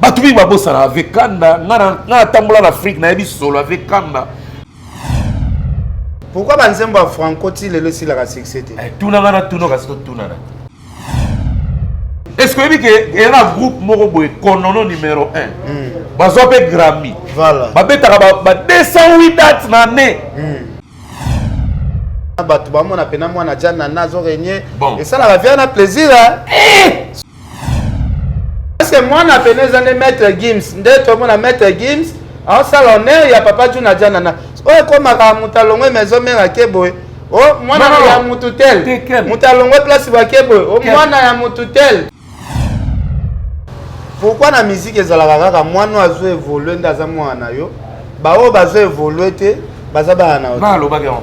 bato mingi babosana avec kanda nga natambola na afrique nayebi solo avec kanda pourkui banzembo ya franco ti lelo esilaka succès te eh, tuna nga natuna kasi totunana est ce que oyebi ke eya na groupe moko boye konono numero 1 hmm. bazwa mpe grammy babetaka ba 208 date na année hmm. bato bamona mpena mwana jana nazo regne esalaka via na plaisir eh! Parce que mwana pene eza nde maître Gims nde tomona maître Gims aosala honneur ya papa Juna Janana oyo ekomaka moto alongwe maison mère ake boye o oh, mwana no, no, ya motu tel moto alongwe place bake boye o oh, mwana ya motu tel pourkui na miziki ezalaka kaka mwana oyo azo evolue nde aza mwana na yo baoyo bazo evolue te baza bana na yo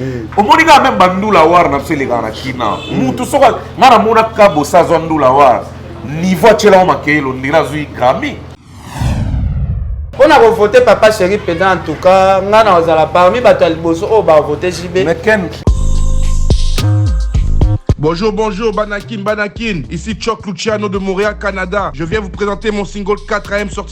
Eh. omoni kaka meme bandula war na biso elekaka na kina mutu mm. soki ngai namona kabosa azwa ndula war niveau atyelako makeyelo ndenge azwi grami mpo na kovote papa chéri mpenza en tout cas ngai na kozala parmi bato ya liboso oyo bavote jb Bonjour, bonjour, Banakin, Banakin. Ici Choc Luciano de Montréal, Canada. Je viens vous présenter mon single 4 ème sorti.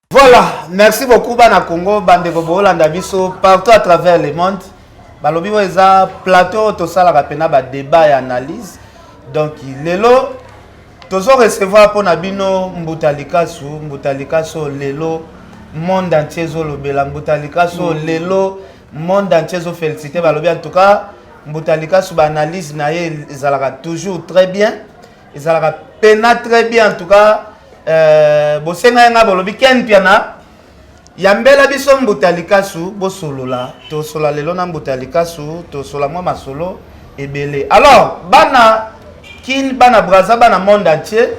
Voilà, merci beaucoup bana Congo, bandeko bolanda biso partout à travers le monde. Balobi oyo eza plateau tosalaka mpena ba débat ya analyse. Donc lelo tozo recevoir mpo na bino Mbuta Likasu, Mbuta Likasu lelo monde entier ezolobela Mbuta Likasu mm. lelo monde entier ezofélicite balobi en tout cas Mbuta Likasu ba analyse na ye ezalaka toujours très bien. ezalaka pena très bien en tout cas euh, bosenga ye ngai bolobi ken piana yambela biso mbuta likasu bosolola tosola lelo na mbuta likasu tosola mwa masolo ebele alors bana kin bana braza bana monde entier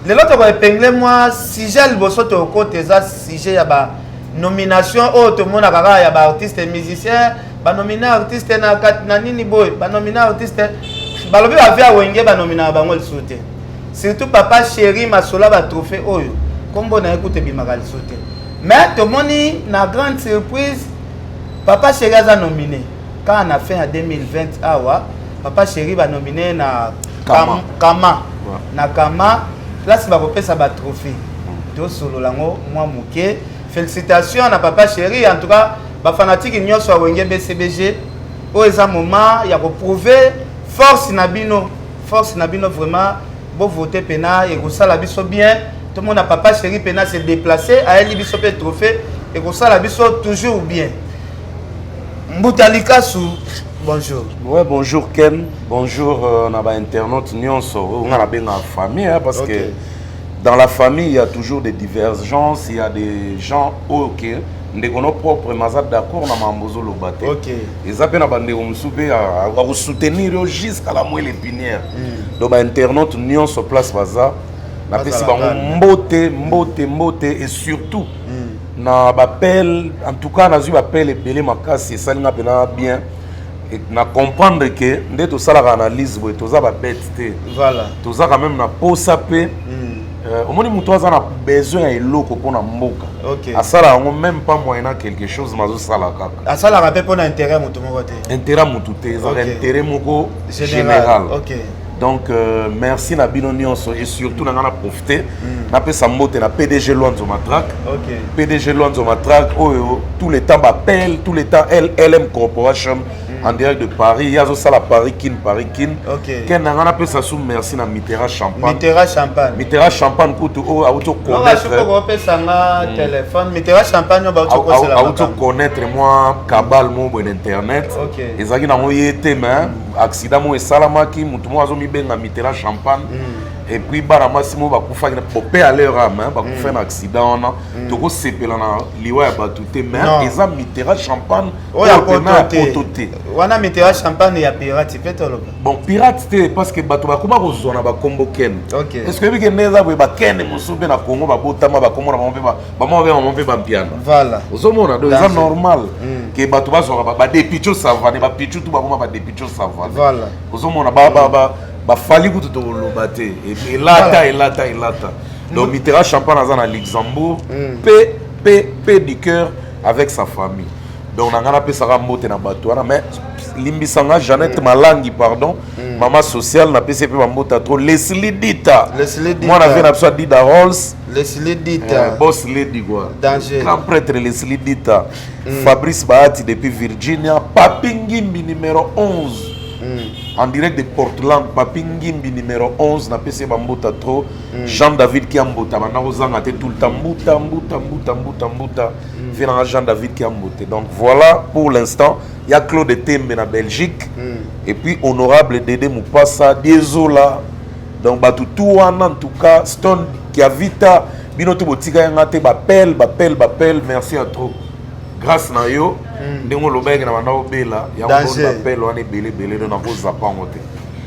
lelo tokoepengle mwa sujet liboso tokota eza sujet ya ba nomination oyo tomonaka kaka ya baartiste musicien banomina artiste na kati na nini boye banomina artiste balobi bavi ya wenge banominaka bango lisusu te surtout papa chéri masola batrophée oyo nkombo na ye kutu ebimaka lisusu te mais tomoni na grande surprise papa chéri aza nomine kaka na fin ya 2020 awa papa chéri banomine na kama, kama. Ouais. na kama place bakopesa batrophée tosolola yango mwa moke félicitation na papa chéri en tout cas bafanatiki nyonso ya wenge bcbg oyo eza moment ya koprouve force na bino force na bino vraiment bovote mpena ekosala biso bien tomona papa chéri mpena se déplace ayeli biso mpe trophée ekosala biso toujours bien mbuta likasu bonjour ouais bonjour ken bonjour euh, na bainternaute nyonso oyo oh, ngai nabengaka famille hein, parce okay. que dans la famille il y a toujours des divergences il y a des gens oyo okay, ndeko no propre maza d'accord na mambo ozoloba te okay. eza mpe na bandeko mosusu mpe akosoutenir yo jusqu'à la moelle épinière mm. donc bainternaute nyonso place baza napesi bango mbote mbote mbote et surtout mm. na bapele en tout cas nazwi bapele ebele makasi esali nga mpena bien na comprendre ke nde tosalaka analyse boye toza babete te voilà. toza quand même na posa mpe mm. Euh, omoni moto aza na besoin ya eloko mpo na mboka okay. asala yango meme pas moyen a quelque chose mazosala kaka asalaka mpe mpo na intérêt moto moko te intérêt moto te ezaka okay. intérêt moko général okay. donc euh, merci na bino nyonso et surtout mm. na ngai na profite mm. napesa mbote na pdg lwanzo matraque okay. pdg lwanzo matraque oyo tout le temps bapele tout le temps lm corporation en direct de Paris. Il y a aussi la Paris Kin, Paris Kin. Ok. Ken on appelle ça sous merci na Mitterrand Champagne. Mitterrand Champagne. Mitterrand Champagne kutu o auto connaître. Non, je peux appeler ça na hmm. téléphone. Mitterrand Champagne ba auto connaître la. Auto connaître moi cabal mon bon internet. Ok. Ezaki na moye te mais accident mo esalamaki mutu mo azo mi benga Mitterrand Champagne. Mm. et puis bana mwasi moko bakufaki pope ya leur ame hein, bakufa mm. na accident wana mm. tokosepela na liwa ya bato te mais eza mitera champagne oyo ya poto te wana mitera champagne ya pirate mpe toloba bon pirate te parce que bato bakoma kozwa na bakombo kene parce que oyebike nde eza boye bakene mosusu mpe na congo babotama bakombo na bango mpe bamama mpe bango mpe bampiana voilà ozomona donc eza normal hmm. ke bato bazwaka badepicho savane bapichu tu bakoma badepicho savane voilà ozomona bafali kutu tokoloba te e-, elata elata elata donc mitera champagne aza na luxembourg hmm. mpe mpe mpe du cœur avec sa famille donc na ngai napesaka mbote na bato wana mais limbisa nga jeannette mm. malangi pardon mm. mama sociale napesi mpe bambota trop lesli dita mwana vie na biso adida rolls lesli dita eh, bos lady gua grand prêtre lesli dita mm. fabrice bahati depuis virginia papi ngimbi numero 11 mm. en direct de portland papi ngimbi numero 11 napesi ye bambota trop Mm. Jean David Kiambuta banda kozanga te tout le temps mbuta mbuta mbuta mbuta mbuta mm. vie nanga Jean David Kiambuta donc voilà pour l'instant il y a Claude Tembe na Belgique mm. et puis honorable Dede Mupasa Diezola donc bato tout wana en tout cas Stone Kiavita bino tout botika yanga te bapel bapel bapel merci à trop grâce na yo ndenge olobaki na banda obela yango bapel wana ebele ebele do nakozapa yango te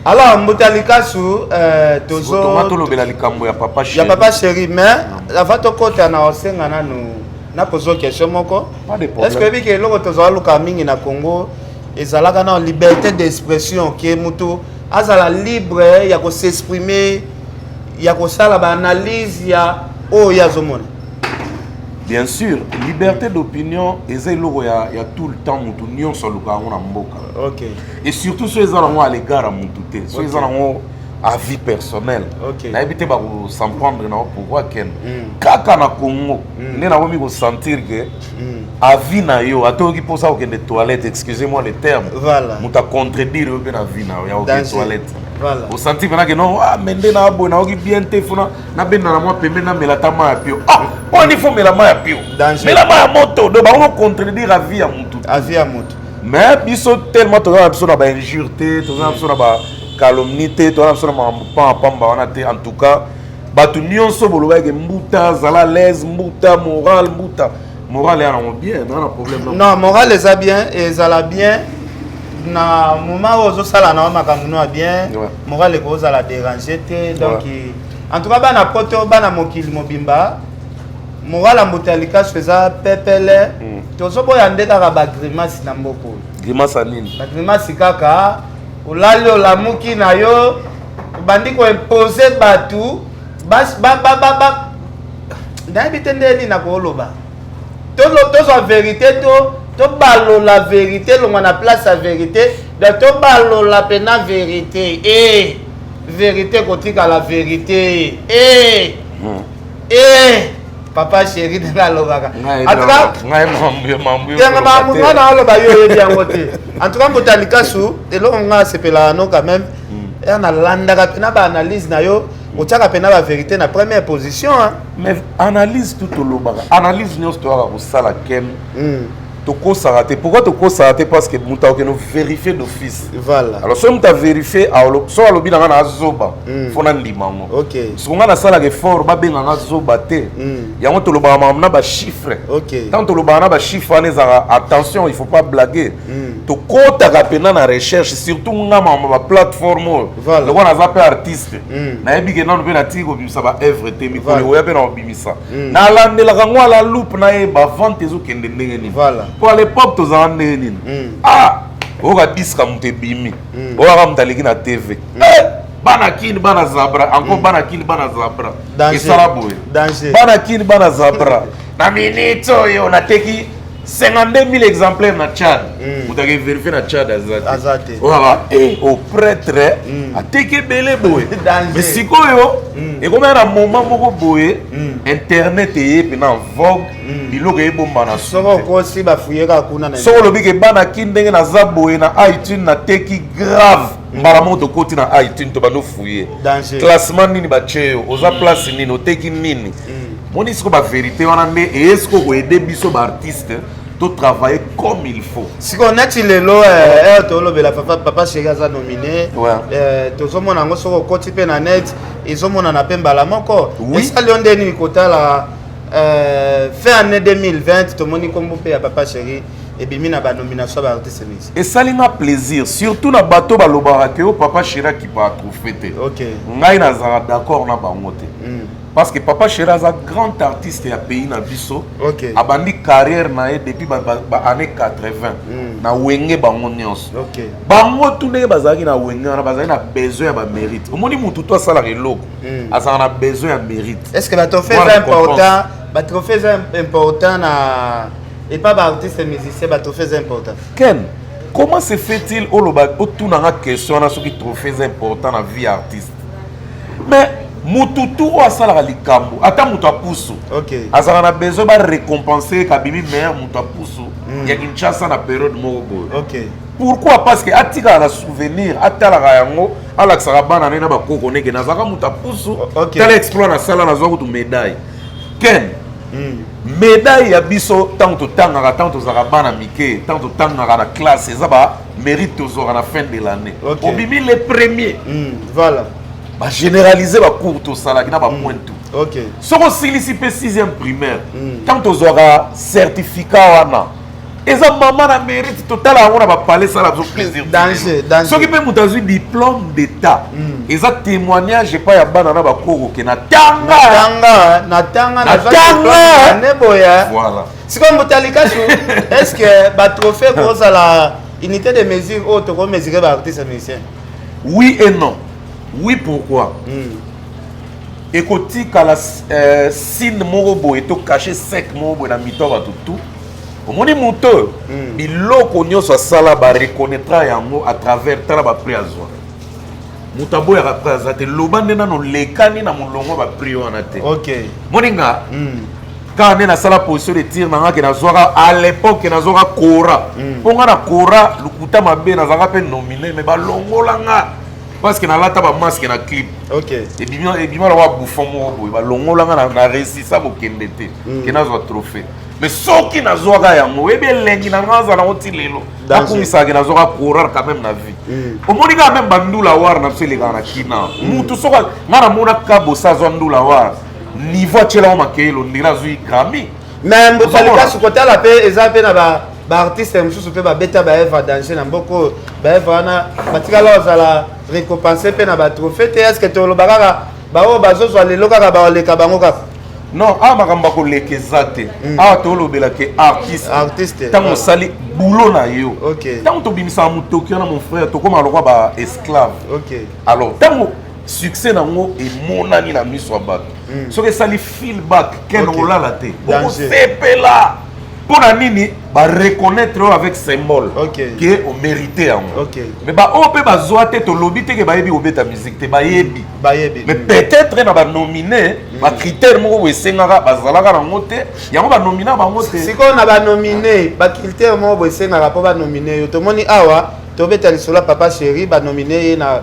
alors mbuta likasu euh, tozotolobela likambo ya papa ya papa chéri mais avant tokota na osenga nanu nakozwa question moko est ce que oyebi ke eloko tozala luka mingi na congo ezalaka na liberté d'expression ke motu azala libre ya kosexprime ya kosala baanalyse ya oyo oh, ye azomona bien sûr liberté d'opinion eza eloko ya, ya tout le temps motu nyonso alukaka yango na mboka okay. et surtout soki eza nango à l'égard ya motu te soki eza nango à vie personnelle okay. nayebi te bakosemprendre na pourquoi ken mm. kaka na congo mm. nde nakomi kosentir ke mm. avis na yo ata oyoki mposa kokende toilette excusez moi le terme voilà. moto acontredire yo mpe na vie na yo ya okende toilette voilà. osanti mpenake no ah, me nde na boye nayoki bien te fona nabenda na mwa pembe namela ata mai ya pio ah, mpo nifo mela mai ya pio mela mai ya moto do bango contredire avis ya motu avis ya motu mais biso tellement toza na biso na ba injure te toza na biso na ba calomnie te toza na biso na makambo pamba pamba wana te en tout cas bato nyonso bolobaki ke mbuta zala laise mbuta moral mbuta moral ya nango bien naza na problème non moral eza bien ezala bien na moment oyo ozosala nango makambo no ya bien moral ekozala dérange te donc en tout cas bana poto bana mokili mobimba morala mboto ya likasu eza pepele mm. tozoboya nde kaka bagrimasi na mboka oyo grimasi ya nini bagrimasi kaka olali olamuki na yo obandi koimpose bato nayebi te nde nini nakoloba tozwa verité to tobalola verité elongwa na place ya verité donc tobalola mpena verité e eh, verité kotikala verité e eh. hmm. Eh, papa chéri ndenge alobaka wana aloba yo oyebi yango te en tout cas mbuta likasu eloko nga asepelaka no quand même hmm. ya nalandaka mpe na baanalyse na yo otyaka mpe na baverité na première position mais analyse tout olobaka analyse nyonso toyaka kosala kem hmm. tokosaka te pourquoi tokosaka te parce que moto akokende verifie d'office voilà alors soki moto averifie soki alobi na ngai na azoba mm. fo nandima yango okay. soko ngai nasalaka effort babenga ngai azoba te mm. yango tolobaka makambo na bachiffre okay. ntango tolobaka na bachiffre wana ezalaka attention il faut pas blaguer mm. tokotaka mpena na recherche surtout nga makambo baplateforme oyo voilà. lokola naza mpe artiste mm. nayebi ke nano mpe natiki kobimisa baœuvre te mikolo ekoya mpe na kobimisa hmm. nalandelaka yango ala loupe na ye bavante ezokende ndenge nini mpo à l'époque tozala ndenge nini hmm. ah oyoka diska moto ebimi hmm. oyaka moto aleki na tv eh! bana kini bana zabra encore bana kini bana zabra esala boye bana kini bana zabra na minute oyo nateki 52000 exemplaires na Tchad. Mm. Vous avez vérifié na Tchad azate. Azate. Oh là eh au prêtre mm. ateke belé boye. Mais sikoyo mm. et comme un moment beaucoup boye mm. internet est maintenant vogue mm. biloko e bomba na soko ko si ba fuyeka kuna na. Soko lobi ke bana kindenge na za boye na iTunes na teki grave. mbala moko tokoti na itune to bando fouye classement nini batye yo oza mm. place nini oteki nini mm. moni siko baverité wana nde eye siko koyede biso baartiste totravaille comme il faut sikoyo neti lelo eh, eh, tolobela papa sheri aza nomine eh, tozomona yango soki okoti mpe na net ezomonana mpe mbala moko esali yo nde nini kotala fin année 2020 tomoni nkombo mpe ya papa sheri ebimi na ba nomination ya ba artiste mingi esali nga plaisir surtout na bato balobaka ke o papa shira kipa atrophe te okay. ngai nazalaka d'accord na bango te mm. parce que papa shira aza grand artiste ya pays na biso okay. abandi carrière na ye depuis ba, ba, ba année 80 mm. na wenge bango nyonso okay. bango tu ndenge bazalaki na wenge wana bazalaki na besoin ya bamérite omoni motu to asalaka eloko mm. azalaka na besoin ya mérite est ce que batrophe eza important batrophe eza important na Et pas ba artistes musiciens ba trophées important. Ken, comment se fait-il oloba otuna nga question na soki trophées important na vie artiste. Mais mutu tu oyo asalaka likambo ata mutu ya pusu okay. azalaka na besoin barécompense kabimi meilleur mutu ya pusu mm. ya kinshasa na periode moko boye okay. pourquoi parce que atikaka na souvenir atalaka yango alakisaka bana ne na bakoko neke nazalaka mutu ya pusu okay. tala exploit nasala nazwa kutu médaille ken mm. Medaille ya biso ntango totangaka ntango tozalaka bana mike ntango totangaka na classe eza ba mérite tozwaka na fin de l'année okay. obimi le premier mm, voilà bagénéralise bacours tosalaki na bapoint mm. tout okay. soki osilisi mpe sixième primaire ntango mm. tozwaka certificat wana eza mama na mérite totala yango na bapale esala biso plaisir soki mpe moto azwi diplôme d'état hmm. eza témoignage epai ya bana na bakoroke na tanga na tanga neboya sikoyo moto alikasu est ce que batrophée kozala unité de mesure oyo tokomesure baartiste musicien oui et non oui pourquoi mm. ekotikala euh, sine moko boye to cache sec moko boye na mito ya bato tout omoni moto oyo hmm. biloko nyonso asala bareconnaitre yango à travers tala baprix azwa moto aboyaka prix aza te loba nde nano lekani na molongo baprix wana te moni nga hmm. kaka nde nasala position de tire nanga ke nazwaka à l'époque nazwaka kora hmm. mpo nga na kora lokuta mabe nazalaka mpe nomine me balongola nga parce que nalata bamaske na clip ebima lokola bouffon moko boye balongola nga na resisa kokende te ke nazwa trophée mais soki nazwaka yango oyebi elengi na ngai azala yango ti lelo akumisaka nazwaka coureur quand même na vie mm. omoni kaka meme bandula war na biso elekaka na kina mm. mutu soki ngai namona kabosa azwa ndula war niveau atyelako makeyelo ndenge azwi grami mais mbokalikasi kotala mpe eza mpe na baartiste mosusu mpe babeta baevre danger na mboka oyo baevre wana batikala ozala récompense mpe na batrophée te est ce que toloba kaka baoyo bazozwa lelo kaka baleka bango kaka non awa ah, makambo akoleka eza te hmm. awa ah, tolobela ke artiste ntango osali boulot na yo ntango tobimisaka motoki wana mon frère tokóma lokwa ba esclave alors ntango succès na yango emonani na miso ya bato hmm. soki esali feelback ken olala te okosepela mpo na nini ba reconnaître yo avec symbole okay. que o mérite yango okay. mais ba oyo mpe bazwa te tolobi te ke bayebi kobeta musique te bayebi bayebi mais peut-être na banomine mm. bacritère moko boye esengaka bazalaka nango te yango banomina bango te sikoyo na banomine bacritère moko boye esengaka mpo banomine yo tomoni awa tobeta lisolo ya papa chéri banomine ye na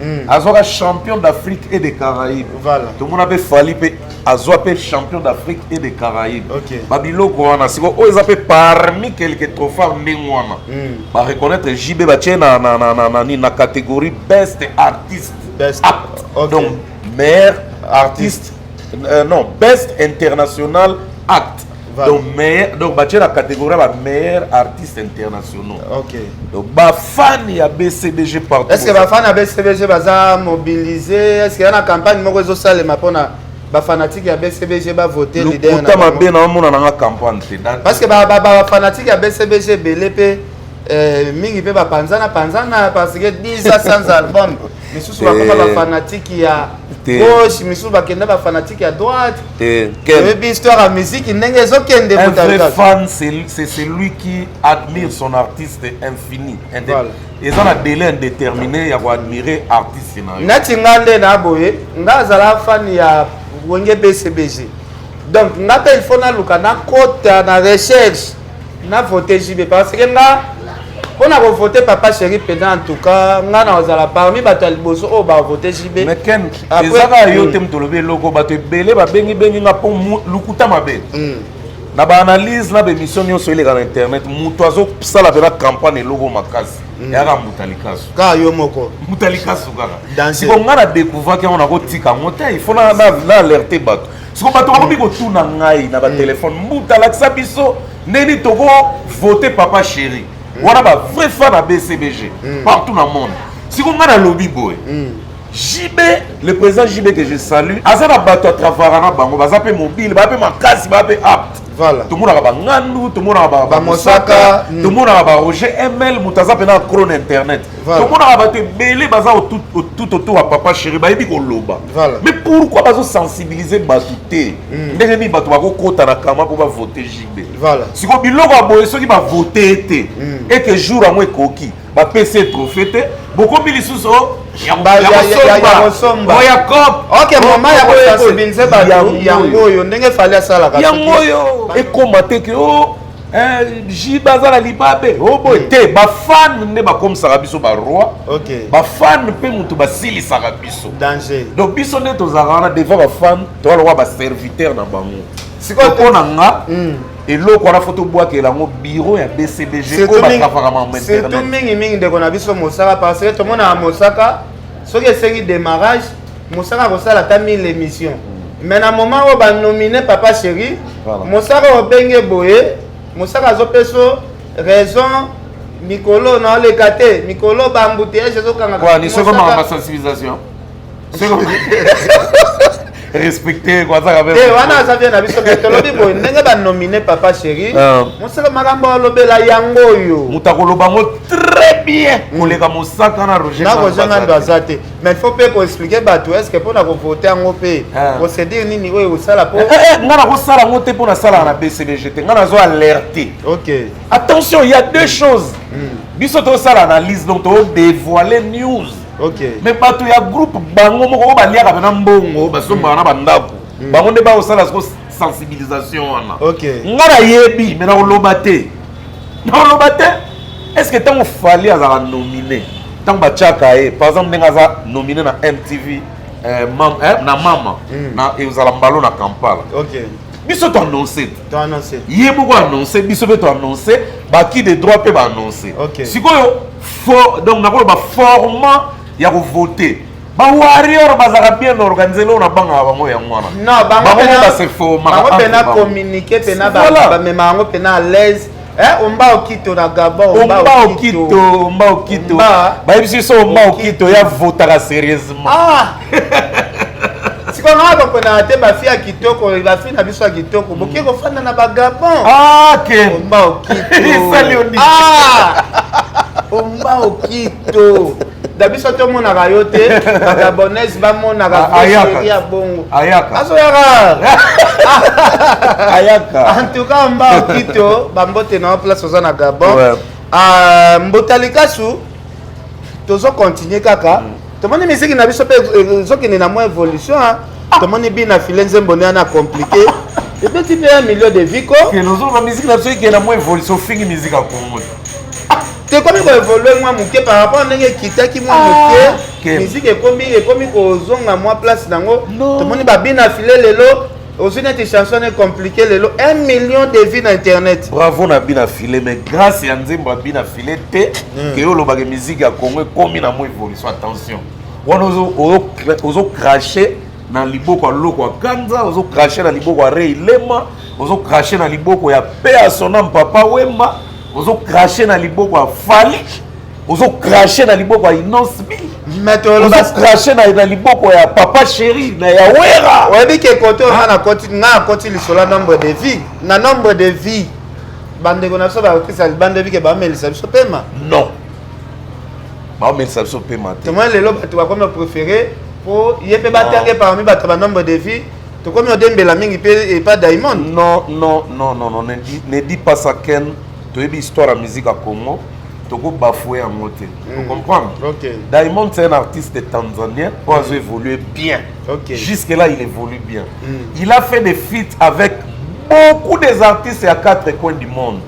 mm. azwaka champion d'afrique et de caraïbe voilà. tomona mpe fali mpe azwa mpe champion d'afrique et de caraïbe okay. babiloko wana sikoyo oyo eza mpe parmi quelque trophar ndenge wana mm. bareconnaitre jb batye na, na, na, na, na, na catégorie best artiste best. Act. Okay. donc meilleur artiste, artiste. Euh, non best international act donc meilleur donc batie na catégorie ba meilleurs artistes internationaux ok donc bafan ya bcbg partout est ce que bafan ya bcbg baza mobilise est ce que ya na campagne moko ezosalema mpona bafanatike ya bcbg bavote liderta mabe na omona nanga campagne te parce que bafanatike ya bcbg ebele mpe eh, mingi mpe bapanzana panzana parce que 10 ans sans album misusu bakoma bafanatiki ya gauche misusu bakenda bafanatiki ya droite oyebi histoire ya miziki ndenge ezokende un vrai fan c'est celui qui admire son artiste infini eza na délai indéterminé ya koadmire artiste na yo neti nga nde na boye nga azala fan ya wenge bcbg donc nga mpe il faut naluka nakota na recherche na vote JB parce que nga mpo na kovote papa chéri mpenza en tout cas ngai nakozala parmi bato ya liboso oyo bavote jb ezaka yo te moto olobi eloko bato ebele babengibengi nga mpo lokuta mabe hmm. na baanalyse na baémission nyonso eleka na internet moto azosala mpena campagne eloko makasi hmm. yaka mbuta likasu kaka yo moko mbuta likasu kaka siko ngai na découvraki yango nakotika yango te il faut na alerte bato siko bato bakomi kotuna ngai na batelefone mm. mbuta alakisa biso ndeni toko vote papa chéri mm. wana ba vrai fan ya bcbg mm. partout na monde siko ngai nalobi boye JB, le président JB que je salue, aza na bato ya travara na bango, baza pe mobile, baza pe makasi, baza pe apte. Voilà. tomonaka bangandu tomonaka bamosaka hmm. tomonaka baroger ml moto aza mpena acro na internet tomonaka bato ebele baza tout autour ya papa chéri bayebi koloba mais pourquoi bazosensibilize bato te hmm. ndenge nini bato bakokota na kama mpo bavote jb sikoyo biloko ya boye soki bavote ete ete jour yango ekoki ba PC trophée te bokomi lisusu oh, ya kosomba oya cop ok mama ya kosensibilize bato yango oyo ndenge fali asalaka yango oyo ekoma te ke o oh, eh, ji baza na libabe o oh, boye hmm. te bafane nde bakomisaka biso baroi bafane mpe moto basilisaka biso danger donc biso nde tozalaka wana devant bafane toaloka baserviteur na bango sikoyo mpo na nga hmm. eloko wana fo tobwakela yango biro ya bcbg oyo batravaka mambo surtout mingimingi ndeko na biso mosaka parce que tomonaka mosaka soki esengi démarrage mosaka akosala ata 1000 émission mais na moment oyo banomine papa chéri mosaka obenge boye mosaka azopeso raison mikolo naoleka te mikolo bambuteyage ezokangaka respecte kwazaka mpe eh, wana aza vie na biso me tolobi boye ndenge banomine papa chéri ah. mosala makambo alobela yango oyo moto akoloba yango très bien koleka mosaka na roger nakozanga ndo aza te mais faut mpe koexplike bato est ce que mpo na kovote yango mpe ah. procédure nini oyo ekosala mpo eh, eh, ngai nakosala yango te mpo nasalaka na bcbg te ngai nazo alerte ok attention il y a deux choses hmm. biso tosala analyse donc todévoile news okay. mais bato ya groupe bango moko oyo baliaka pena mbongo basombaka na bandako mm. bango nde bakosala siko sensibilisation wana okay. nga nayebi me nakoloba te nakoloba te est ce que ntango fali azalaka nomine ntango batyaka ye par exemple ndenge aza nomine na mtv eh, mam, eh, na mama mm. na ekozala mbalo na kampala okay. biso toannonce ye moko annonce biso mpe toannonce baki de droit mpe baannonce okay. sikoyo For, donc nakoloba format ya kovote bawarrior bazalaka bien organise loo na bangaka bango yango wana bango base formabango mpena communique mpena bamema yango mpena à l'aise Eh, omba okito na gabon omba okito omba okito bayebisi biso omba okito ya votaka serieusement ah. sikoyo ngai bakonaka te bafi ya kitoko bafi na biso ya kitoko boke mm. kofanda na bagabon ah, omba okito ah! omba okito da biso tomonaka yo te bagabonese bamonaka ah, ya bongo azoyaka ayaka en tout cas omba okito bambote na yo place oza na gabon mbotalikasu tozo continue kaka mm. tomoni miziki na biso mpe ezokende na mwa évolution ah. tomoni bi na file nzembo nde ana compliqué ebeti mpe ya milieu de vie ko ozoloba miziki na biso ekende na mwa évolution ofingi miziki ya kongo tekomi koevolue mwa moke par rapport ndenge ekitaki mwa ah. moke miziki ekomi ekomi kozonga mwa place nango tomoni babina file lelo ozwi neti chanson ne compliqué lelo 1 million de vie na internet bravo na bina file mais grâce ya nzembo ya bina file te mm. ke yo olobaka miziki ya congo ekomi na mwa évolution attention wana ozo crache na liboko ya loko ya kanza ozo crache na liboko ya rei lema ozo crache na liboko ya pe ya sonam papa wemba ozo crache na liboko ya fali ozo crache na liboko ya inosbi oza crache na liboko ya papa chéri na ya wera oyebi ke kote oza nakoti nga nakoti lisolo ya nombre de vie na nombre de vie bandeko na biso bakokisa libanda ebike bamelisa biso pema non baomelisa biso pema te tomoni lelo bato bakomi bapréféré mpo ye mpe batange parmi bato ya banombre de vie tokomi odembela mingi mpe epa daimon non non non non non ne dis pas ça ken toyebi histoire ya musique ya congo toko bafoue yango te mm. comprendre okay. diamond c'est un artiste tanzanien oyo mm. azo évolue bien okay. jusque là il évolue bien mm. il a fait des feats avec beaucoup des artistes ya quatre coins du monde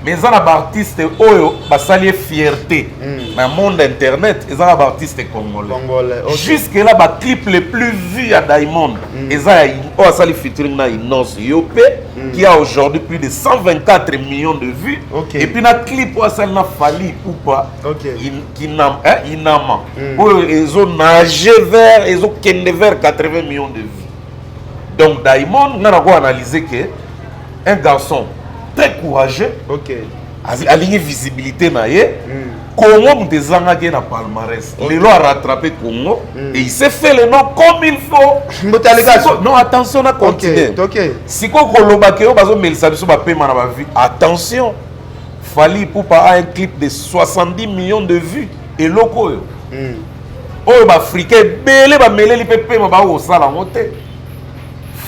mais eza na baartiste oyo basali ye fierté mm. na monde internet eza na baartiste congolais, congolais okay. jusque là baclip le plus vu ya diamond mm. eza ya oyo asali featuring na inonce yo mpe mm. qui a aujourd'hui plus de 124 millions de vues okay. et puis na clip oyo asali na fali ipupa okay. in, kinam, eh, inama mm. oyo ezo nage vers ezokende vers 80 millions de vues donc daimond nga nako analyse ke un garçon très courageux okay. alingi visibilité na ye mm. Congo moto ezangaki ye na palmarès lelo a rattrape Congo mm. et il s'est fait le nom comme il faut Siko, non attention na continue okay, okay. sikoyo koloba ke yo bazomelisa biso bapema na bavie attention Fally Ipupa a un clip de 70 millions de vues eloko oyo mm. oyo baafricain ebele bameleli mpe pema bakosala yango te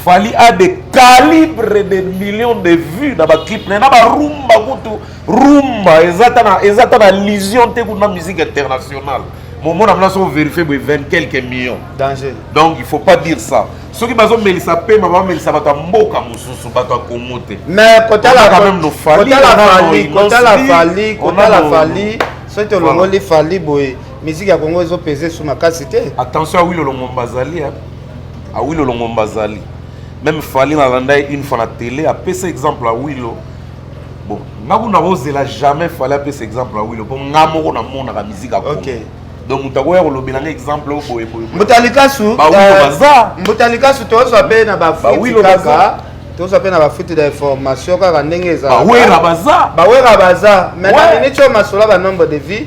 Fally a des calibres de millions de vues na baclip na ye na barumba kutu rumba eza ta na eza ta na lision te kuna musique internationale momona mna so verifie boye 20 quelques millions danger donc il faut pas dire ça soki bazomelisa pema bamelisa bato ya mboka mosusu bato ya kongo te mais kotala fali kotala fali soki tolongoli fali boye miziki ya kongo ezopese su makasi te attention awilo longomba azali awilo longomba azali meme fali nalanda ye une fois na tele apesa exemple awilo bon nga kuna kozela jamais fale apesa exemple ya wilo mpo nga moko namonaka miziki ya kongo donc moto akoya kolobela nga exemple oyo boye boye mbuta likasu bawilo euh, baza mbuta likasu tozwa mpe na bafuti kaka tozwa mpe na bafuti da information kaka ndenge ezalabawera baza bawera baza mais na miniti oyo masolo ba nombre de vie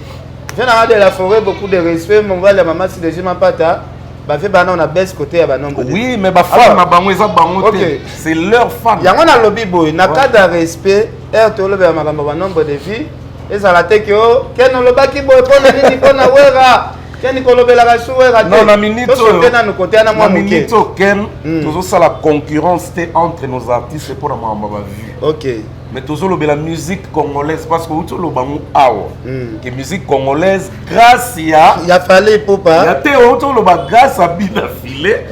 je nanga de la forêt beaucoup de respect mobali ya mama sidejima mpata bafe bana na base côté ya banombre oui mais bafan na bango eza bango te c'est leur fan yango nalobi boye na cas de respect heure tolobela makambo ya banombre de vie ezala te ke o ken olobaki boye mpo na nini mpo na wera ken kolobelaka su wera teosoke nanu kote ana mwa moke ken hmm. tozosala concurrence te entre nos artistes mpo na makambo ya bavue ok mais tozolobela musique congolaise parce que outi oloba ngo awa hmm. ke musique congolaise grâce ya ya fale popa ya te outi oloba grâce ya bina file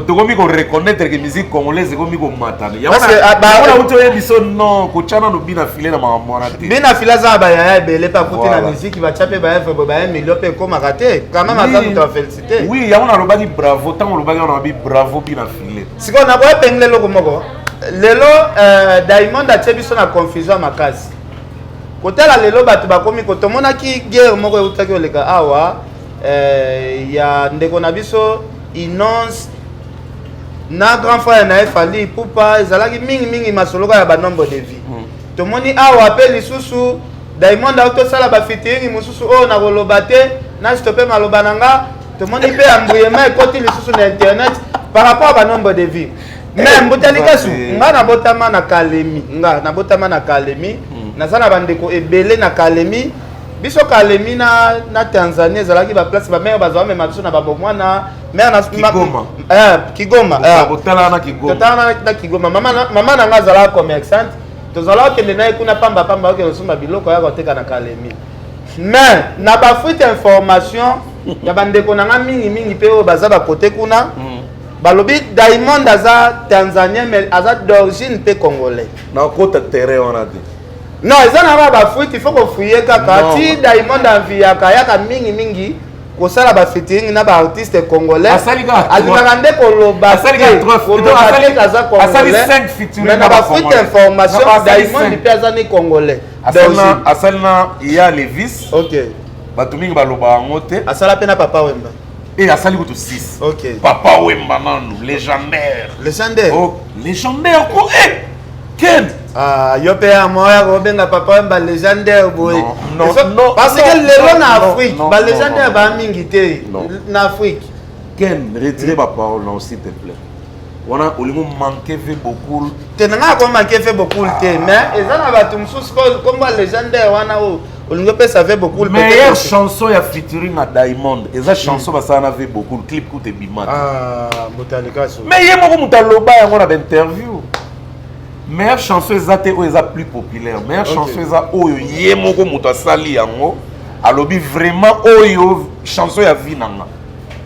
tokomi koreconnaitre ke musique congolaise ekomi komatana yangoona outi oyebi so non kotya nano bina file na makambo wana te bina file aza na bayaya ebele mpe akuti na musique batya mpe baevre bo baye milio mpe ekomaka te quand même aza moto ya felicité oui yango nalobaki bravo ntango olobaki wana mabi bravo bina file sikoyo nakoya pengele eloko moko lelo euh, diamond atie biso na confusion ya makasi kotala lelo bato bakomi ko tomonaki guerre moko eutaki oleka awa euh, ya ndeko na biso inonce na grand frère na ye fali pupa ezalaki mingimingi masoloka ya banombre de vie mm. tomoni awa mpe lisusu diamond auti osala bafitiringi mosusu oyo nakoloba te na stope maloba na nga tomoni mpe ambruyema ekoti lisusu na internet par rapport à banombre de vie me eh, mbuta likasu nga nabotama na kalemi nga nabotama na kalemi hmm. naza na bandeko ebele na kalemi biso kalemi na, na tanzanie ezalaki baplace bamere bazwa mema biso na babomwana mare na kigoma eh, kigoma eh. na kigoma mama na nga azalaka commerçante tozalaka okende na ye kuna pamba pamba okende kosomba biloko yaka oteka na kalemi mais na bafuite information ya bandeko na nga mingi mingi mpe oyo baza bakote kuna mm. balobi diamond aza tanzanien mais aza d'origine mpe congolais nakota terrain wana te non eza na ba bafuite ifo kofuye kaka ti diamond anviyaka yaka mingi mingi kosala bafitiring na baartiste congolais alingaka nde kolobaaza congolaisme na bafuite information diamond mpe aza ni congolais asali na ya levis bato mingi baloba yango te asala mpe na papa wemba Et la salle de 6. Ok. Papa Wemba Manu, légendaire. Légendaire. Oh, légendaire quoi. Eh, Ken. Ah, yo pe ya moya ko benga papa Wemba légendaire boy. Non, non, non. Parce que lelo na Afrique, ba légendaire ba mingi te na Afrique. Ken, retire ma parole, non, s'il te plaît. wana olingo manque ve bokul te na ngai akomanke ve bokul te ah. mais eza na bato mosusu komba legendaire wana oyo olingi opesa ve bokul meilleure chanson ya featuring na diamond eza hmm. chanson basala na ve bokul clip kuta ebimata ah, motalikaso mais ye moko moto aloba yango na bainterview meilleure chanson eza te oyo eza plus populaire meilleure chanson eza oyo ye moko moto asali yango alobi vraiment oyo chanson ya vie na nga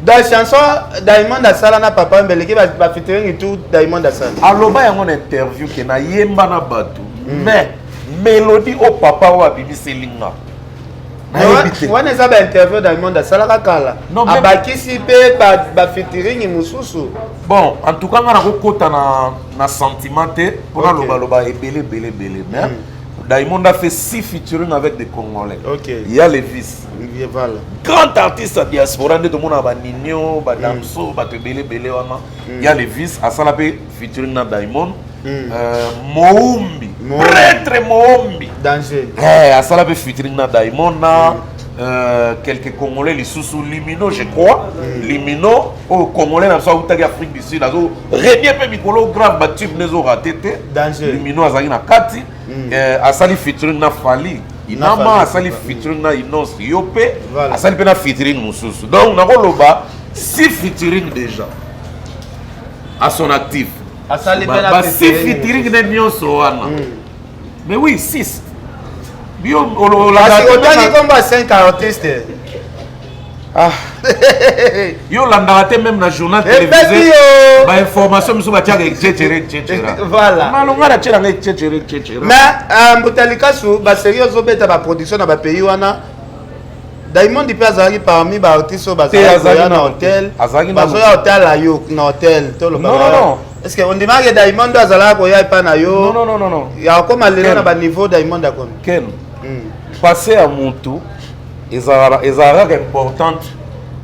da chanson diamond asala na papa mbeleke bafitirengi ba tout diamond asala aloba yango na interview ke nayemba na bato mm. mais melodi oyo papa oyo abimiseli nga wana eza bainterview diamond asalaka kala abakisi mpe bafitiringi mosusu bon en tout cas nga nakokota na, na sentiment te mpo nalobaloba okay. ebele ebele ebele mais mm. diamond a fait six featuring avec des congolais okay. ya levis Olivier Vala. Grand artiste ya diaspora nde tomonaka ba Nino, ba Damso, mm. bato ebele ebele wana. Mm. Ya Levis asala mpe featuring na Diamond. Mm. Euh, Moumbi. Prêtre Moumbi. Danger. Eh, asala mpe featuring na Diamond na mm. Euh, quelques congolais lisusu limino je crois mm. limino oyo oh, congolais na biso autaki afrique du sud azo renie mpe mikolo grave batube nde ezorate te limino azalaki na kati mm. eh, asali featuring na fali inama asali featuring na inonce yo mpe asali mpe na featuring mosusu donc nakoloba si featuring déjà à son actif basi featuring ne nyonso wana mm. mais oui six yo ololaka otali komba 5 artiste Ah. yo olandaka te meme na journal télévisé bainformation mosusu batiaka ececere ececera voilà malonga na tielanga ececere ececera mais euh, mbuta likasu baserie ozobeta baproduction na bapays wana diamond mpe azalaki parmi baartiste oyo bazalaki na hotel bazoya otala yo na hotel toloba est-ce que ondimaki diamond azalaka koya epai na yo ya okoma lelo na baniveau diamond akomi ken hmm. passe ya motu ezalaka ezalaka kaka importante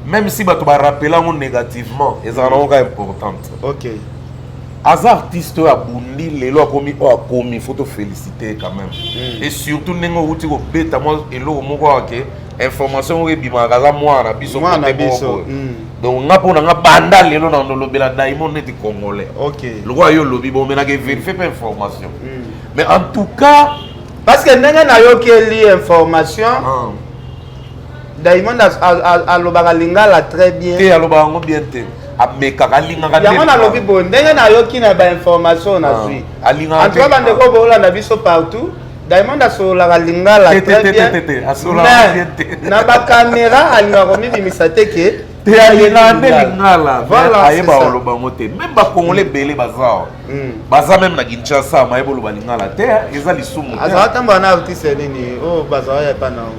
même si bato barappela yango négativement ezalaka nango kaka importante ok aza artiste oyo abundi lelo akomi oyo akomi il faut tofélicite ye quand même mm. et surtout ndenge outi kobeta mwa eloko moko ake information moko ebimaka aza mwana na biso kote moko mm. donc nga mpo na nga banda lelo na nolobela daimond neti congolais okay. lokola yo olobi bomelaka verifie mpe information mm. mais en tout cas parce que ndenge nayokeli information ah. diamond alobaka lingala très bien te alobaka yango bien te amekaka alingaka yango nalobi boye ndenge nayoki na bainformation nazwi ah, antuka bandeko boolanda biso partout diamond asololaka lingala très bien mais na bakamera alingaka komibimisa te ke lingala ayeba oloba yango te meme bakongole ebele baza awa hmm. baza meme na kinshasa mayeba oloba lingala te eza lisumu azala tambola na artiste nini oyo oh, bazala ya epa nao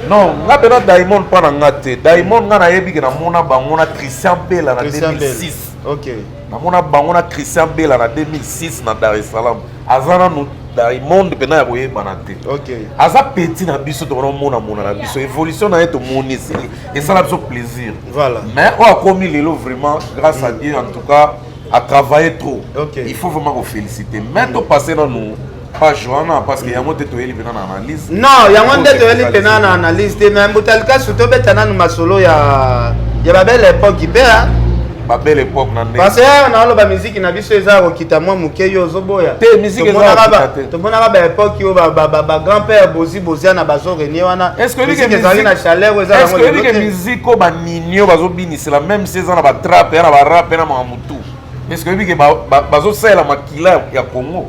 non nga mpe na diamond mpo na nga te diamond nga nayebi ke namona bango na christian bela na 2006 namona bango na christian bela na 2006 na dar es salaam aza nanu diamond mpena ya koyebana te aza peti na biso tokonamonamona na biso evolution na ye tomoni esili esala biso plaisir voilà. mais oyo akomi lelo vraiment grâce mm. à dieu en tout cas a travaillé trop okay. il faut vraiment koféliciter mais mm. topasse nanu page wana parce que yango te toyeli mpena na analyse non yango nde toyeli mpena na analyse te mais mbuta likasu tobeta nanu masolo ya ya babele epoque mpe ba belle époque na ndenge parce que na loba musique na biso eza ko kita moi muke yo ozoboya te musique eza ko kita te to mona ba époque yo ba ba ba grand père bozi bozia na bazo renier wana est ce que musique eza na chaleur eza na est ce que que musique ko ba ninio bazo binisela même si eza na ba trap na ba rap na ma mutu est ce que que ba bazo sala makila ya Congo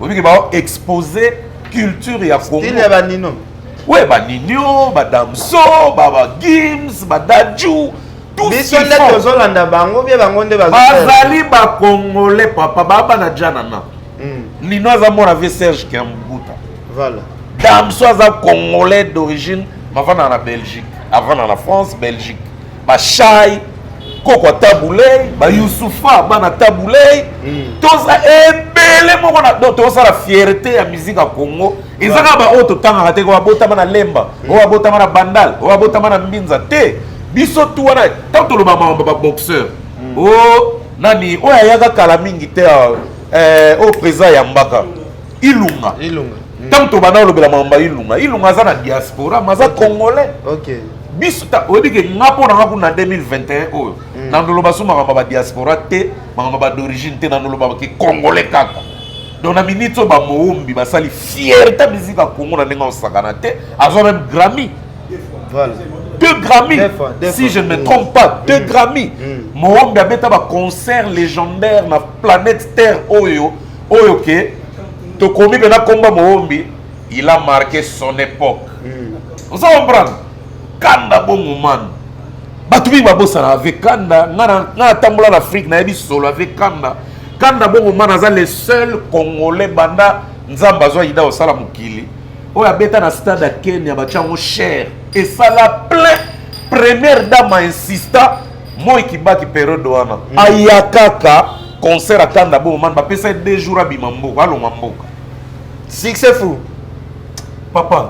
obi que ba exposer culture ya Congo style ya ba nino ouais ba ninio ba damso ba ba gims ba dajou biso nde tozolanda bango bie bango nde bazali bakongole papa baba na jana na hmm. lino aza mwana vie serge kiambuta voilà damso aza congolais d'origine mavanda na belgique avanda na france belgique bashai koko tabulei bayusufa bana tabulei hmm. toza ebele moko na do tozosala fierté ya musique ya congo eza kaka baoyo totangaka te oyo abotama na lemba oyo abotama na bandal oyo abotama na mbinza te biso tu wana ntango toloba makambo baboxeur hmm. o oh, nani oyo ayaka kala mingi te ah, eh, oyo président ayambaka ilunga ntango hmm. tobanda olobela makambo ya ilunga ilunga aza na diaspora ma aza congolais biso oyebi ke nga mpo na nga kuna 2021 oyo hmm. nandoloba so makambo ya badiaspora te makambo ya badorigine te nandolobaka ke congolais kaka donc na minute oyo bamoombi basali fierté musique ya congo na ndenge osakana te azwa meme grammy voilà. deux grammy si je ne me trompe pas deux mm. grammy mm. moombi abeta baconcert légendaire na planète terre oyo oyo ke tokomi mpena komba moombi il a marqué son époque mm. oza comprendre kanda bongo manu bato mingi babosana ave kanda ngai natambola na afrique nayebi solo ave kanda Kanda bongo nga naza le seul congolais banda nzambe azwa ida osala mokili oyo abeta na stade ya kenya batya yango cher esala plein première dame insista moi kibaki periode wana mm. aya kaka concert akanda bongo man bapesa ye deux jours abima mboka alonga mboka succès fou papa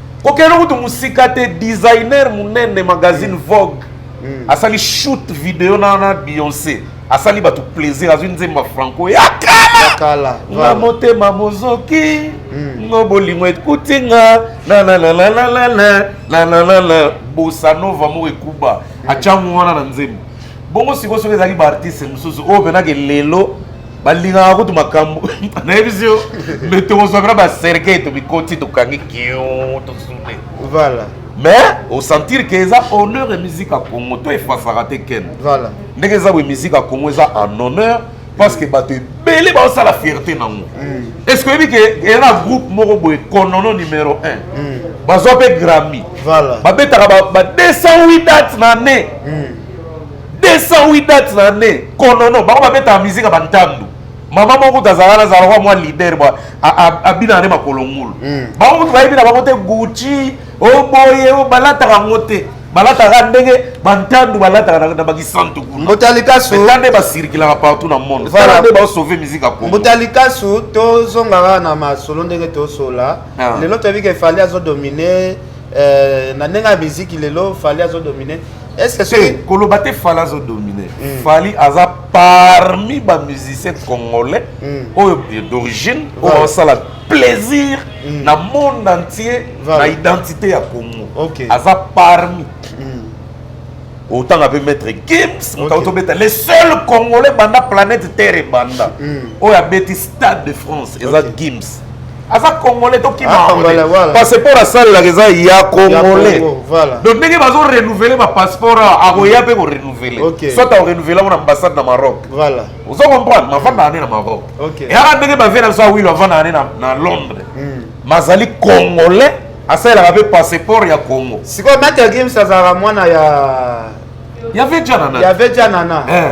kokende kutu mosika te designer monene magazine mm. vogue mm. asali shoot video na na beyonce asali bato plaisir azwi nzembo ya franco ya kala nga motema mozoki mm. ngo bolingo ekuti nga nananananananananana bosanova moko ekuba atyango wana na nzembo bongo sikoyo soki ezalaki baartiste mosusu oyo mpenake lelo balingaka kutu makambo nayebisi yo me tokozwa mpena baserkei tomikoti tokangi kio tosune voilà mais osentir ke eza honneur ya musique ya congo to efasaka te ken voilà ndenge eza boye musique ya congo eza en honneur parce que bato ebele baosala fierté nango mm. est ce que oyebi ke eza na groupe moko boye konono numero 1 mm. bazwa mpe grammy babetaka ba 208 date na année mm. 208 dates na année konono bango babetaka mizika bantandu mama moko kutu azalaka azalaka kwa mwa leader bwa abinaka nde makolo ngulu hmm. bango kutu bayebi na bango te gucci oboye oh, oh, balataka yango te balataka ndenge bantandu balataka na bakisantu kunatala nde basirikilaka partout na monde tala nde baosauve mizika kombuta likasu tozongaka na masolo ndenge tosola ah. lelo toyebi ke fali azodomine eh, na ndenge ya miziki lelo fali azodomine te koloba te fali azo domine mm. fali aza parmi bamusicien congolais mm. oyo d'origine oyo aosala plaisir mm. na monde entier na identité ya congo aza parmi otanga mpe maître gims moto auti obeta le seul congolais banda planète terre ebanda oyo abeti stade de france eza gims aza congolais tokima parce mpo nasalelaka eza ya congolais donc ndenge bazo renouvele bapasseport akoya mpe korenouvele soit akorenouvele yango na ambassade na maroc ozo comprendre mavandaka nde na maroc eyaka ndenge bavie na biso awilo avandaka nde na londres hmm. mazali congolais asalelaka mpe passeport ya congo sikoyo mate ya games azalaka mwana ya ya vejanana ya vejanana eh.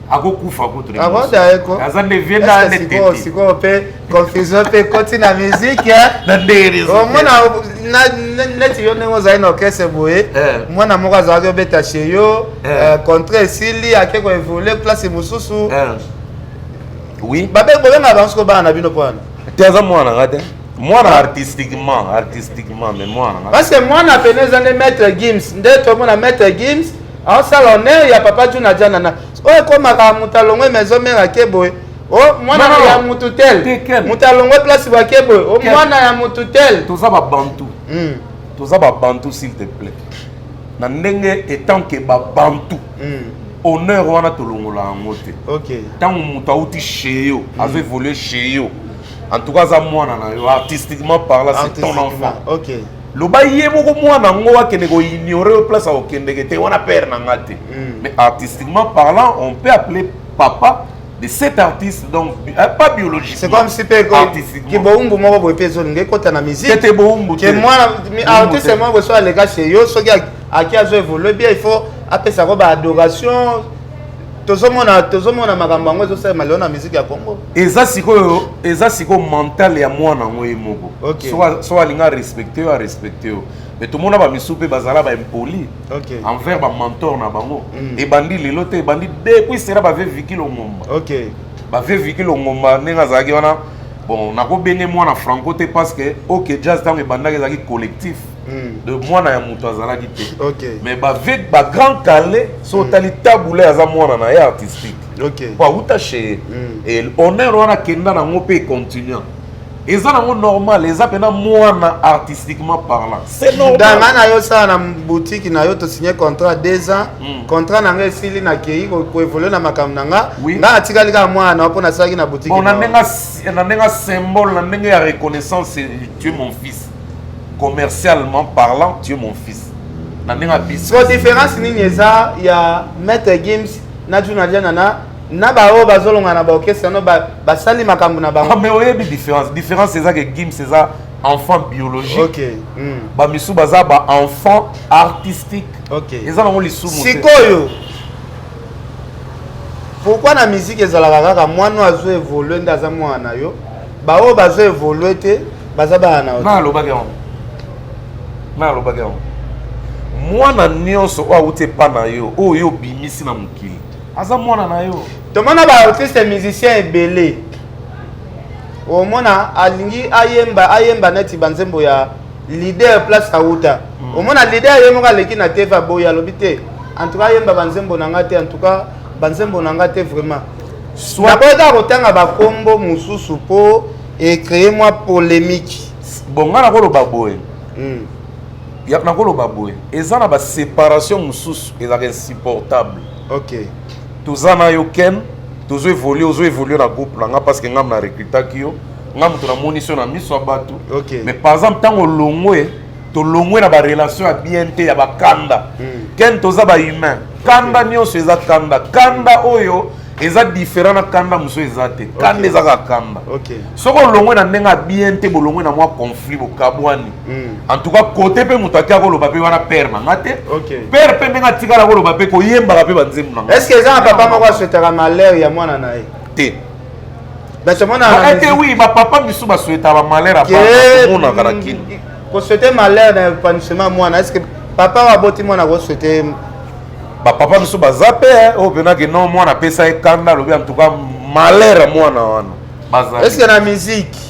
akokufa kutu aza nde vie na netete sikoyo mpe confusion mpe ekoti na miziki omona neti yo ndenge ozali na orchestre boye eh. mwana moko azalaki obeta chez yo eh. eh, contrat esili ake koevolue place mosusu oui babe bobenga bango siko bana na bino mpo wana te aza mwana nga te mwana ah. artistiquement artistiquement mais mwana parce que mwana pene eza nde maître gims nde tomona maître gims aosala honneur ya papa juna jana na oyo ekomaka moto alongwe maison mare ake boye o mwana ya motu tel moto alongwe place bake boye o mwana ya motu tel toza babantu hmm. toza babantu s'il te plaît na ndenge etant ke babantu hmm. honneur wana tolongola yango te ntango moto auti chez yo hmm. azo évolue chez yo en tout cas aza mwana na yo artistiquement parla c'est ton enfant okay. loba ye moko mwana yango akende koignore yo place akokendeke te wana père na nga te hmm. mais artistiquement parlant on peut appeler papa de cet artiste donc euh, pas biologique c'est comme si pe ki boumbu moko boye pe ezolinga ekota na musique te boumbu te mwana artiste moko so aleka chez yo soki aki azo évoluer bien il faut apesa ko ba adoration tozomona tozomona makambo yango ezosalema lelo na miziki ya congo eza sikoyo eza sikoyo mental ya mwana yango ye moko okay. so alinga arespecte yo arespecte yo mais tomona bamisu mpe bazala baimpoli okay. envers bamentor na bango mm. ebandi lelo te ebandi depuis sera bave viki longomba okay. bave viki longomba ndenge azalaki wana bon nakobenge mwana franco te parce que ok jazz ntango ebandaki ezalaki collectif Hmm. de mwana ya moto azalaki te okay. mais bavec bagrand kale so hmm. otali tabule aza mwana na ye artistique okay. po awuta chez mm. honneur wana akenda nango mpe econtinua eza nango normal eza mpena mwana artistiquement parlant c'est normal danga na yo sala na boutique na yo tosigne contrat deux ans mm. contrat na nga esili nakei koevolue na makambo na nga oui. nga atikali kaka mwana na yo mpo nasalaki na boutique bon, na ndenge symbole na ndenge ya reconnaissance tu es mon fils commercialement parlant tu es mon fils na ndenge abisi so différence nini eza ya maître gims na juna jana na na baoyo bazolonga na baorchestre no basali makambo na bango ah, mais oyebi différence différence eza ke gims eza enfant biologique okay. mm. bamisusu baza baenfant artistique okay. eza nango lisumu sikoyo pourkui na miziki ezalaka kaka mwana oyo azo evolue nde aza mwana na yo baoyo bazo evolue te baza bana na yo nga alobaki yango nga alobaki yango mwana nyonso oyo awuti epa na yo oyo yo obimisi na mokili aza mwana na yo tomona baartiste musicien ebele omona alingi ayemba ayemba neti banzembo ya leader place awuta mm. omona leader ye moko aleki na tv aboyi alobi te en tout cas ayemba banzembo na nga te en tout cas banzembo na nga te vraiment naboyaka kotanga bakombo mosusu mpo et créer mwa polemique bon nga nakoloba boye mm. ya nakoloba boye eza na baséparation mosusu ezalaka insupportable ok toza na yo ken tozo évolue ozo évolue na groupe na nga parce que ngai na recrutaki yo nga moto namonisi yo na miso ya bato okay. mais par exemple ntango olongwe tolongwe na barelation ya bien te ya bakanda hmm. ken toza bahumain kanda hmm. nyonso eza kanda kanda oyo eza différent na kanda mosusu eza te kanda eza kaka kanda soki olongwe na ndenge ya bien te bolongwe na mwa conflit bokabwani hmm. en tout cas kote mpe moto ake akoloba mpe wana pere na nga te pere mpe ndenge atikala koloba mpe koyembaka mpe banzembo na nga estce eza na papa moko aswetaka malheur ya mwana na ye te ete wi bapapa misu basueta bamalere amonaka na kini kosuete malere na epanouissement mwana eske papa oyo aboti mwana kosuete bapapa misu baza mpe eh, oyo oh, mpenake no mwana apesa ye kanda alobi antuka malere mwana wana eske na miziki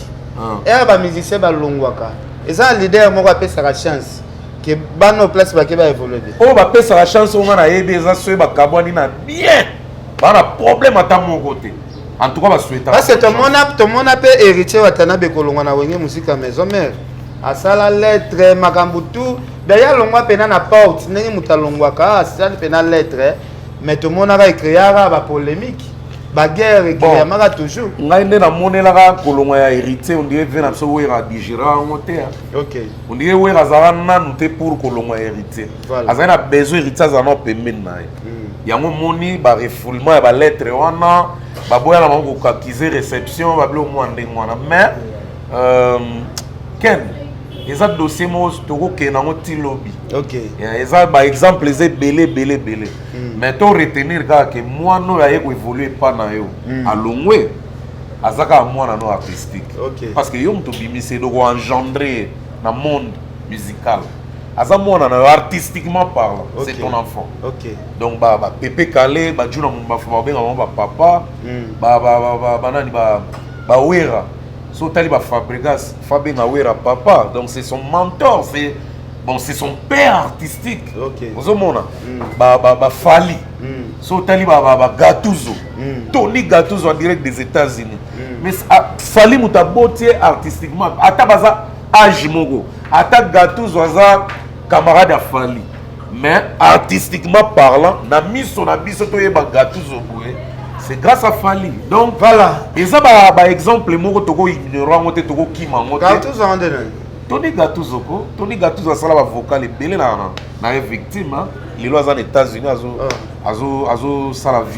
ere ah. eh, bamusicien balongwaka eza leader moko apesaka chance ke bana o place bake baevolue te oyo bapesaka chance oyo nga nayebi eza soki bakabwani na bien baa na problème ata moko te en tout cas ba souhaita parce que tomona tomona pe héritier watanabe kolongwa na wenge musika maison mère asala lettre makambo tout d'ailleurs alongwa mpena na porte ndenge moto alongwaka asali mpena lettre mais tomonaka ekreaka bapolémique baguerre ekreamaka toujours ngai nde namonelaka kolongwa ya héritier ondire ve na biso wera digera yango te ondire wera azala nanu te pour kolongwa ya héritier azali na besoin héritier azala nao pembeni na ye hmm. yango moni barefoulement ya balettre wana baboya na bango kokakize réception babilo mwa ndenge wana mais euh, ken eza dossier moko tokokende yango ti lobi eza baexemple eza ebele ebele ebele hmm. mais to retenir kaka ke mwana oyo aye koevolue epa na yo hmm. alongwe aza kaka mwana no artistique parce que yo moto obimisi eloko engendre na monde musical aza mwana na yo artistiquement parlant okay. c'est ton enfant okay. donc ba, ba pepe kale bajuna mumbafu babenga bango bapapa mm. ba, ba, ba, ba, ba, nani ba, ba wera so otali ba fabregas fabenga wera papa donc c'est son mentor c'est bon c'est son père artistique okay. ozomona mm. ba, ba, ba fali mm. so otali ba, ba, ba gatuzo mm. tony gatuzo en direct des états-unis mm. mais ah, fali moto aboti ye artistiquement ata baza age moko ata gatuzo aza camarade ya fali mais artistiquement parlant na miso na biso toyeba gatuzo boye c'est grâce à fali donc voilà eza baexemple ba moko tokoignora yango te tokokima yango te toni gatuzo ko toni gatuzo asala bavocal ebele na, na, na ye victime lelo aza na états-unis azosala ah. azosala vi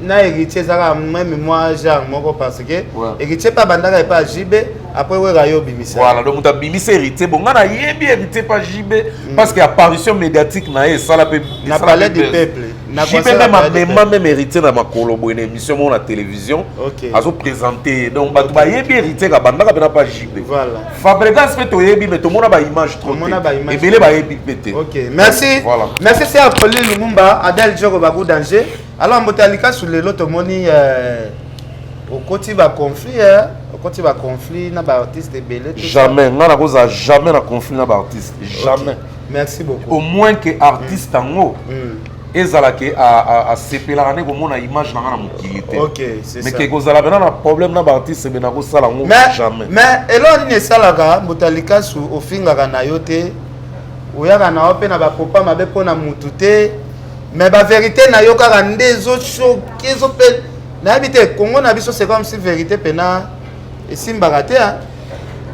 na héritier ezalaka meme mwa genre moko parce que héritier mpe abandaka epa ya jb après wera yo obimisa voilà donc moto abimisa héritier bon ngai nayebi héritier mpa jb mm. parce que apparition médiatique na ye esala mpe na palais du peuple jb meme amema meme héritier na makolo boye na émission moko na télévision azoprésente ye donc bato bayebi héritier kabandaka mpena mpa jb fabregas mpe toyebi me tomona baimage trop te ebele bayebi mpe te merci merci ser poli lumumba adel jogo bagu danger Alors mbote ya likasu lelo tomoni euh, okoti ba conflit eh? okoti ba conflit na ba artiste ebele jamais nga nakozala jamais na conflit na ba artiste jamais okay. merci beaucoup au moins que artiste mm. yango mm. mm. ezala ke asepelaka nde komona image na nga na mokili te mais ke kozala pena na problème na baartiste me nakosala yango jamais mais eloko nini esalaka moto ya likasu ofingaka na yo te oyaka na yo mpe na bapopa mabe mpo na mutu te mais ba verite na yo kaka nde ezo choke ezo pe nayebi te congo na biso c'est comme si verite pena esimbaka te hein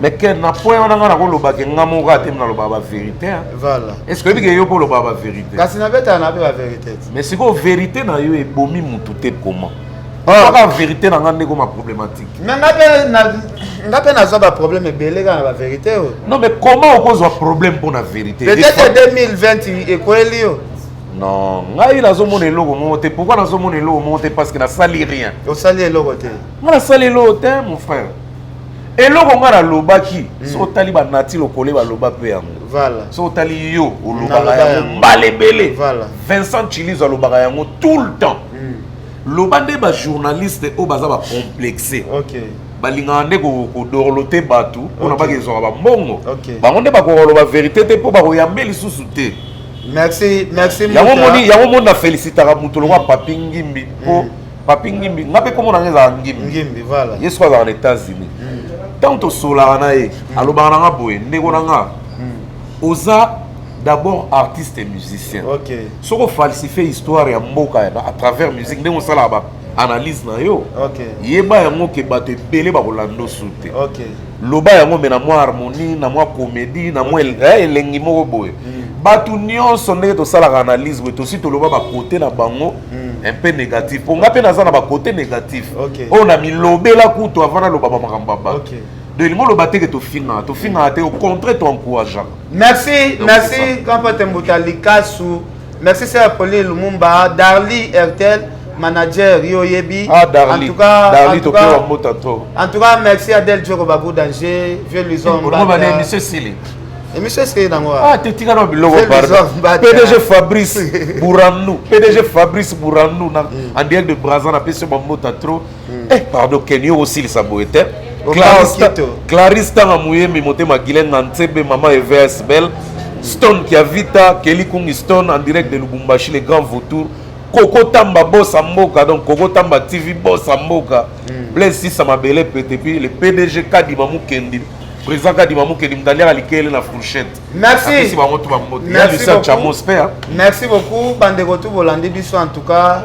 mais que na point wana nga nakoloba ke nga moko ate naloba ba vérité voilà est ce que oyebi ke yo mpo oloba ba vérité kasi nabetaka na mpe ba vérité mais sikoyo vérité na yo ebomi mutu te comment kaka verité na nga ndeko ma problématique mais nga pe na nga pe nazwa ba problème ebele kaka na ba verité oyo non mais comment okozwa problème mpo na verité peut-être 2020 ekweli yo non ngai nazomona eloko moko te pourquoi nazomona eloko moko te parce que nasali rien osali eloko te nga nasali eloko te mon frère eloko ngai nalobaki hmm. soki otali banati lokole baloba mpe yango soki otali yo olobaka yango mbala ebele vincent chilizo alobaka yango tout le temps loba nde ba journaliste oyo baza ba complexe okay. balingaka nde kodorlote bato mpo na baka ezwaka bambongo bango nde bakokoloba verité te mpo bakoyambe lisusu te merci merci yango moni yango moni na felicitaka moto lokwa papi ngimbi mpo mm. papi ngimbi nga mpe nkombo na nga ezalaka ngimbi ngimbi voilà ye soki azalaka na états-unis ntango mm. tosolaka na ye mm. alobaka na nga boye ndeko na nga oza d'abord artiste et musicien okay. soko falsifie histoire ya mboka à travers musique ndenge osalaka ba analyse na yo okay. yeba yango ke bato ebele bakolanda osu te okay. loba yango me na mwa harmonie na mwa comédie na mwa eh, elengi moko boye mm. bato nyonso ndenge tosalaka analyse boye tosi toloba bakote na bango mm. un peu négatif mpo ngai mpe naza na bakote négatif oyo okay. Oh, na milobela kutu avant naloba bamakambo ya bato okay. donc elingi oloba te ke tofingaka tofingaka te au contraire toencourageaka Merci, merci Grand Pate Mbuta Likasu. Merci Sir Pauline Lumumba, Darly Ertel, manager yo yebi. Ah Darly. En tout cas, Darly to kwa mbuta to. En tout cas, merci à Del Djoko Babou Danger, vieux Luzon. Bonjour madame, monsieur Sili. Monsieur Sili nango. Ah, te tika no biloko pardon. PDG Fabrice Bouranou, PDG Fabrice Bouranou na mm. en direct de Brazza na pesi mbuta trop. hmm. eh pardon kenio osilisa boye te clarisse tanga muyembi motema guilaine na nsebe mama evs belle stone kiavita keli kungi stone en direct de lubumbashi le grand vautour koko tamba bosa mboka donc koko tamba tv bosa mboka hmm. blaise sisa mabele pete puis le pdg kadima mukendi président kadima mukendi moto aliaka likele na fourchette merci bango tu bambote ya lisa chamos mpe merci beaucoup bandeko tu bolandi biso en tout cas